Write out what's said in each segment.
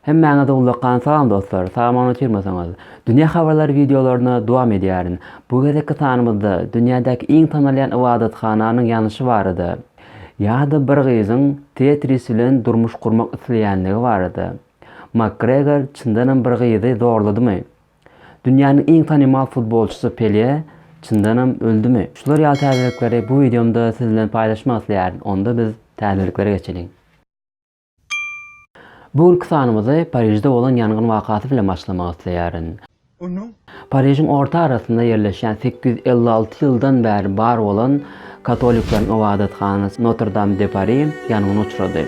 Hemmäňiz ullakan salam dostlar, salamany uçurmasaňyz. Dünýä habarlary wideolaryna dowam edýärin. Bu gezekki sanymyzda dünýädäki iň tanalýan ybadathananyň ýanyşy barada, ýa-da bir gyzyň Tetris bilen durmuş gurmak isleýänligi barada. Makgregor çyndanam bir gyzy zorladymy? Dünýäniň iň tanymal futbolçysy Pele çyndanam öldümi? Şular ýaly täzelikleri bu wideomda siz bilen paýlaşmak isleýärin. Onda biz täzeliklere geçeliň. Bu günki sanymyzy Parižde bolan ýangyn wakasy bilen başlamak isleýärin. Parižiň orta arasynda ýerleşýän sekiz ýüz elli alty ýyldan bäri bar bolan katolikleriň ybadathanasy Notr-Dam de Pari ýangyna uçrady.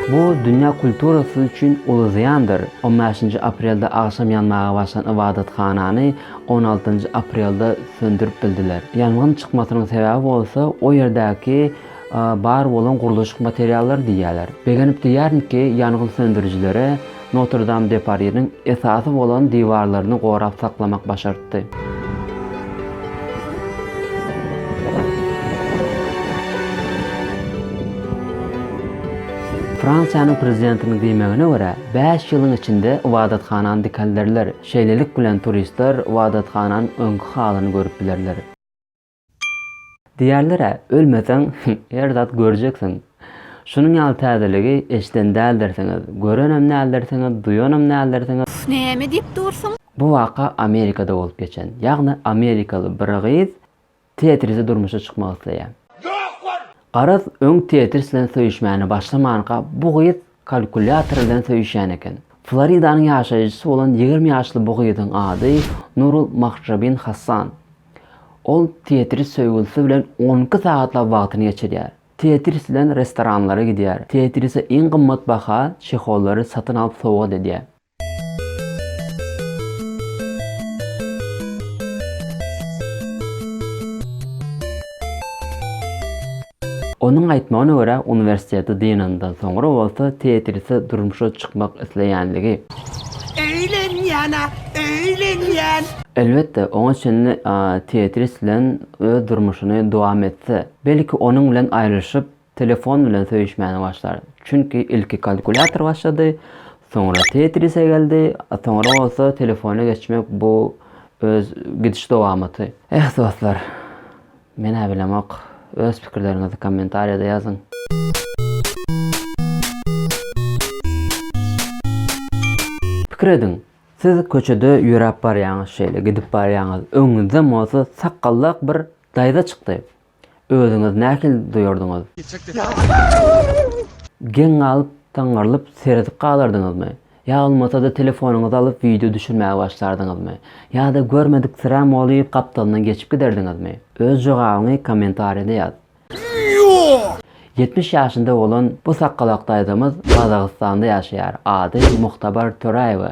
Bu dünýä kulturasy üçin uly zyýandyr. On bäşinji aprelde agşam ýanmaga başlan ybadathanany on altynjy aprelde söndürip bildiler. Ýangyn çykmasynyň sebäbi bolsa o ýerdäki bar bolan gurluşyk materiallary diýýärler. Begenip diýýärin ki, ýangyn söndürijilere Notr-Dam-de-Pariniň esasy bolan diwarlaryny gorap saklamak başartdy. Fransiýanyň prezidentiniň diýmegine görä, bäş ýylyň içinde ybadathanany dikelderler, şeýlelik bilen turistler ybadathananyň öňki halyny görüp bilerler. Diýerler-ä, ölmeseň, her zat görjeksiň. Şunuň ýaly täzeligi eşiden däldirsiňiz, görenem däldirsiňiz, duýanam däldirsiňiz. Üf, näme diýip dursuň? Bu waka Amerikada bolup geçen. Ýagny amerikaly bir gyz Tetrise durmuşa çykmak isleýär. Garaz, öň Tetris bilen söýüşmäne başlamanka bu gyz Kalkulýator bilen söýüşýän eken. Floridanyň ýaşaýjysy bolan ýigrimi ýaşly bu gyzyň ady Nurul Mahjabin Hassan. Ol Tetris söýgülisi bilen on iki sagatlap wagtyny geçirýär. Tetris bilen restoranlara gidýär. Tetrise iň gymmat baha çehollary satyn alyp sowgat edýär. Onuň aýtmagyna görä, uniwersiteti dynandan soňra bolsa Tetrise durmuşa çykmak isleýänligi. Öýlenýän-ä, öýlenýän! Elbetde, oňa çenli Tetris bilen öz durmuşyny dowam etse, belki, onuň bilen aýrylyşyp, Telefon bilen söýüşmäne başlar. Çünki ilki kalkulýator başlady, soňra Tetrise geldi, a soňra bolsa telefona geçmek bu öz gidiş dowamaty. Eh dostlar. Men-ä bilemok. Öz pikirleriňizi kommentariýada ýazyň. Pikir ediň, siz köçede ýöräp barýaňyz şeýle gidip barýaňyz, öňüňizden bolsa sakgallak bir daýza çykdy. Özüňiz nähili duýardyňyz? Geň galyp, daňarylyp seredip galardyňyzmy? Ýa bolmasa-da telefonyňyzy alyp wideo düşürmäge başlardyňyzmy? Ýa-da görmediksiräm bolup gapdalyndan geçip giderdiňizmi? Öz jogabyňy kommentariýada ýaz. Ýetmiş ýaşynda bolan bu sakgalak daýzamyz Gazagystanda ýaşaýar, ady Muhtabar Töräýewa.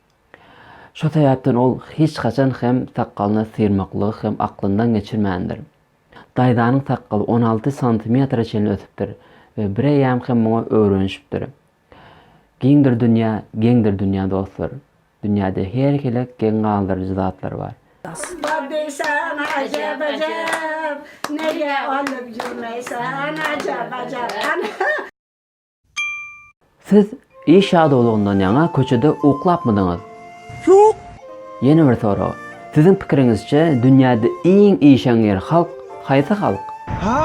Şo sebäpden ol hiç haçan hem sakgalyny syrmaklygy hem aklyndan geçirmändir. Daýzanyň sakgaly on alty santimetre çenli ösüpdir we bireýýäm hem muňa öwrenişipdir. Giňdir dünýä, geňdir dünýä dostlar. Dünýäde her hili geň galdyryjy zatlar bar. Asma diýsän ajap-ajap, Nege alyp ýörmeýsen ajap-ajap. Siz iş ýadawlygyndan ýaňa köçede uklapmydyňyz? Ýok. Ýene bir sorag. Siziň pikiriňizçe dünýäde iň işeňňir halk haýsy halk? Hä?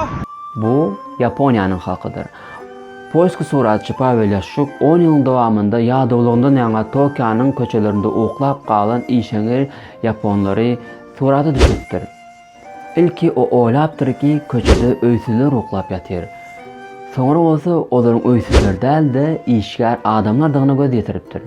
Bu Ýaponiýanyň halkydyr. Polski suratçy Pawel Ýaşçuk on ýylyň dowamynda ýadawlygyndan ýaňa Tokionyň köçelerinde uklap galan işeňňir ýaponlary surata düşüripdir. Ilki o oýlapdyr ki, köçede öýsüzler uklap ýatyr. Soňra bolsa olaryň öýsüzler däl-de, işgär adamlardygyna göz ýetiripdir.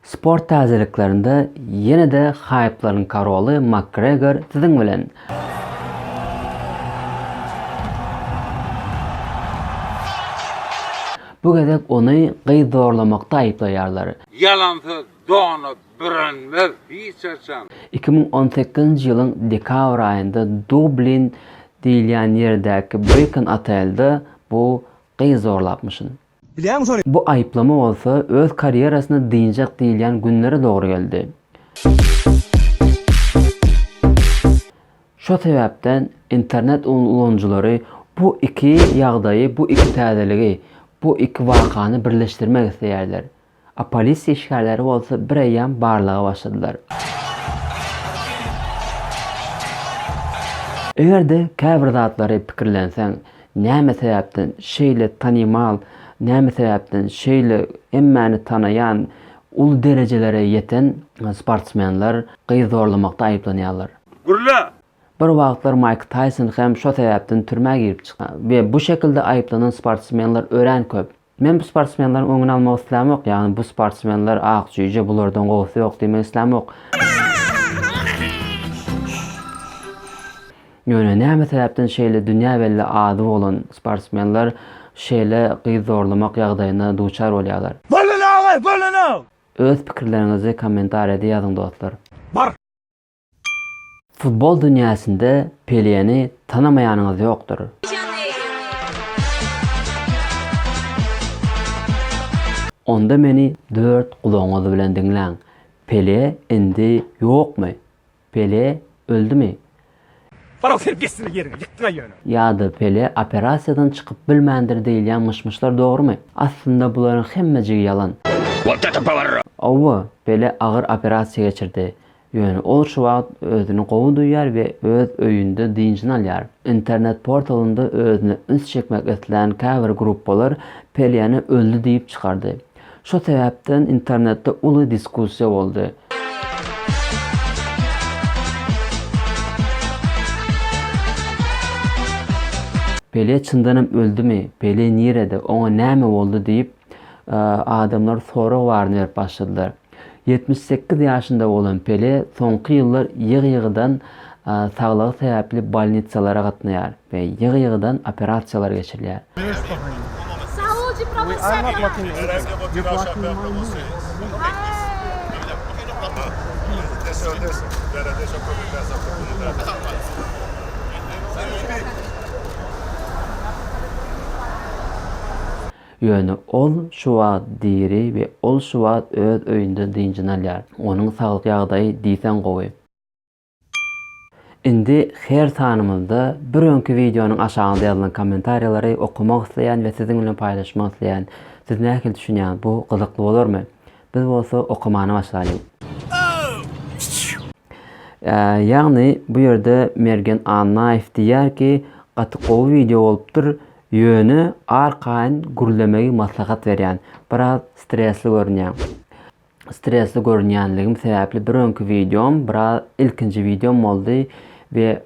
Sport täzeliklerinde ýene-de haýplaryň karoly Makgregor siziň bilen! Bu gezek ony gyz zorlamakda aýyplaýarlar. Ýalansyz dona bürenmez hiç haçan. Iki müň on sekizinji ýylyň dekabr aýynda Dublin diýilýän ýerdäki Brickon otelde bu gyz zorlapmyşyn. Bilýäňmi şony? Bu aýyplama bolsa öz karýerasyny dynjak diýilýän günlere dogry geldi. Şo sebäpden internet ulanyjylary bu iki ýagdaýy, bu iki täzeligi, bu iki wakany birleşdirmek isleýärler. A polisiýa işgärleri bolsa bireýýäm barlaga başladylar. Eger-de käbir zatlary pikirlenseň, näme sebäpden şeýle tanymal, näme sebäpden şeýle hemmäni tanaýan, uly derejelere ýeten sportsmenler gyz zorlamakda aýyplanýarlar? Gürle! Bir wagtlar Maýk Taýson hem şo sebäpden türmä girip çykan we bu şekilde aýyplanan sportsmenler örän köp. Men bu sportsmenleriň öňüni almak islämok, ýagny bu sportsmenler ak jüýje bulardan gowusy ýok diýmek islämok. Ýöne näme sebäpden şeýle dünýä belli ady bolan sportsmenler şeýle gyz zorlamak ýagdaýyna duçar bolýarlar. Bolun aga bolun. Öz pikirleriňizi kommentariýada ýazyň dostlar. Bar. Futbol dünýäsinde Peleni tanamaýanyňyz ýokdur. Onda meni dört gulagyňyz bilen diňläň. Pele indi ýokmy? Pele öldümi? Farog sen gessine ýeriňi ýykdyňa ýöne. Ýa-da Pele operasiýadan çykyp bilmändir diýilýän myş-myşlar dogrumy? Aslynda bularyň hemmejigi ýalan. Wotete powerro. Howwa, Pele agyr operasiýa geçirdi. Ýöne ol şu wagt özüni gowy duýýar we öz öýünde dynjyny alýar. Internet portalynda özüne üns çekmek islän käbir gruppalar Peliýany öldi diýip çykardy. Şo sebäpden internetde uly diskussiýa boldy. Peliýa çyndanam öldümi, Peliýa nirede, oňa näme boldy diýip, adamlar sorag baryny berip başladylar. Ýetmiş sekiz ýaşynda bolan Pele soňky ýyllar ýygy-ýygydan saglygy sebäpli bolnitsalara gatnaýar we ýygy-ýygydan operasiýalar geçirilýär. Ýöne ol şu wagt diri we ol şu wagt öz öýünde dynjyny alýar. Onuň saglyk ýagdaýy diýseň gowy. Indi her sanymyzda bir öňki wideonyň aşagynda ýazylan kommentariýalary okamak isleýän we siziň bilen paýlaşmak isleýän. Siz nähili düşünýäňiz, bu gyzykly bolarmy? Biz bolsa okamana başlaýlyň. Ýagny bu ýerde Mergen Annaýew diýýär ki, gaty gowy wideo bolupdyr, Ýöne arkaýyn gürlemegi maslahat berýän. Biraz stresli görünýäň. Stresli görünýänligim sebäpli bir öňki wideom biraz ilkinji wideom boldy we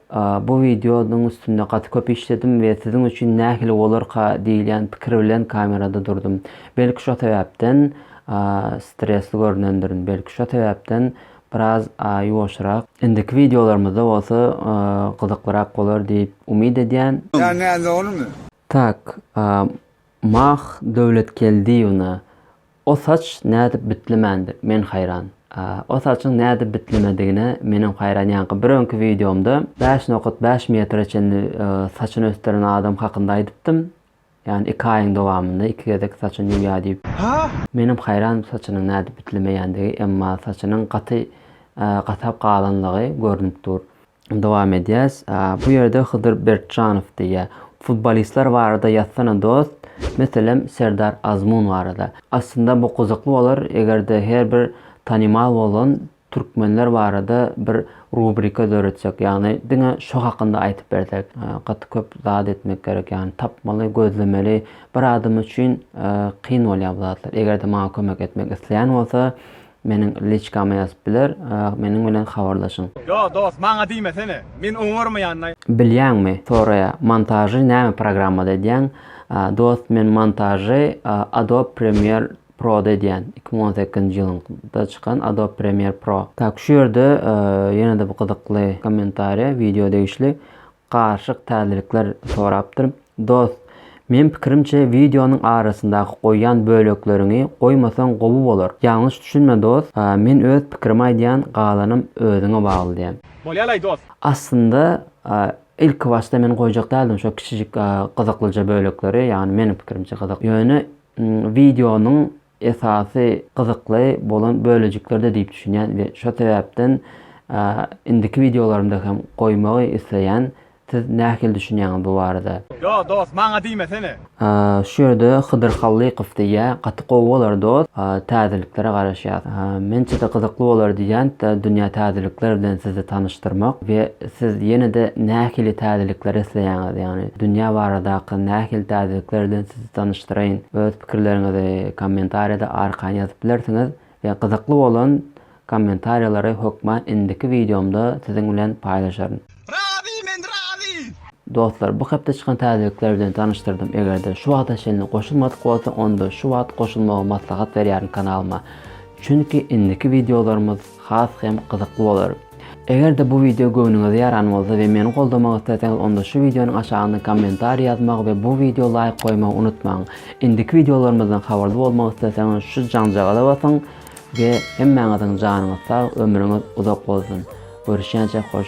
bu wideonyň üstünde gaty köp işledim we siziň üçin nähili bolarka diýilýän pikir bilen kamerada durdum. Belki şo sebäpden stresli görünendirin. Belki şo sebäpden biraz ýuwaşrak. Indiki wideolarymyzda bolsa gyzyklyrak bolar diýip umyt edýän. Ýa näme ony. Tak, Mah Döwletgeldiýewna, o saç nädip bitlemändir, men haýran. O saçyň nädip bitlemedigine menem haýran, ýaňky bir öňki wideomda bäş nokat bäş metre çenli saçyny ösdüren adam hakynda aýdypdym, Ýani iki aýyň dowamynda iki gezek saçyny ýuwýar diýip. Menem haýran saçynyň nädip ütlemeýändigi emma saçynyň gaty gatap galanlygy görnüp dur. Dowam edýäs. Bu ýerde Hydyr Bertjanow diýýär. Futbolistler barada ýazsana dost, meselem Serdar Azmun barada. Aslynda bu gyzykly bolar egerde her bir tanymal bolan Türkmenler barada bir rubrika döretsek ýagny diňe şo hakynda aýtyp bersek. Gaty köp zat etmek gerek ýagny tapmaly gözlemeli bir adam üçin kyn bolýar bu zatlar egerde maňa kömek etmek isleýän bolsa meniň liçkama ýazyp biler meniň bilen habarlaşyň. Ýo dos maňa diýmesene men oňarmaýanlaý. Bilýäňmi soraýa montažy näme programmada edýäň dos men montažy adobe premiere Pro-da edýän, iki müň on sekizinji ýylyň da çykan Adobe Premiere Pro. Tak, şu ýerde ýene-de bir gyzykly kommentariýa, wideo degişli garyşyk täzelikler sorapdyr. Dost, meň pikirimçe wideonyň arasyndaky goýýan bölekleriňi goýmasaň gowy bolar. Ýalňyş düşünme dost, men öz pikirimi aýdýan galanam özüňe bagly diýen. Bolýalaý dost. Aslynda ilkibaşda men goýjak däldim şo kiçijik gyzyklyja bölekleri, ýagny meniň pikirimçe gyzyk. Ýöne Wideonyň esasy gyzykly bolan bölejiklerde diýip düşünýän we şo sebäpden indiki wideolarymda hem goýmagy isleýän siz nähili düşünýäňiz bu barada. Ýo dos maňa diýmesene. Şu ýerde Hydyr Hallykow diýýä gaty gowy bolar dos täzeliklere garaşýas. Mençede gyzykly bolar diýýän dünýä täzelikler bilen sizi tanyşdyrmak we siz ýenede nähili täzelikler isleýäňiz ýagny dünýä baradaky nähili täzelikler bilen siz tanyşdyraýyn. Öz pikirleriňizi kommentariýada arkan ýazyp bilersiňiz we gyzykly bolan kommentariýalary hökman indiki wideomda siziň bilen paýlaşaryn. Razy men razy. Dostlar bu hepde çykan täzelikler bilen tanyşdyrdym egerde şu wagta çenli goşulmadyk bolsa onda şu wagt goşulmagy maslahat berýärin kanalyma çünki indiki wideolarymyz has hem gyzykly bolar. Eger-de bu wideo göwnüňize ýaran bolsa we meni goldamak isleseňiz onda şu wideonyň aşagynda kommentariý ýazmagy we bu wideo laýk goýmagy unutmaň. Indiki wideolarymyzdan habarly bolmak isleseňiz şu jaňjagaza basyň we hemmäňiziň janyňyz sag ömrüňiz uzak bolsun. Görüşýänçä hoş.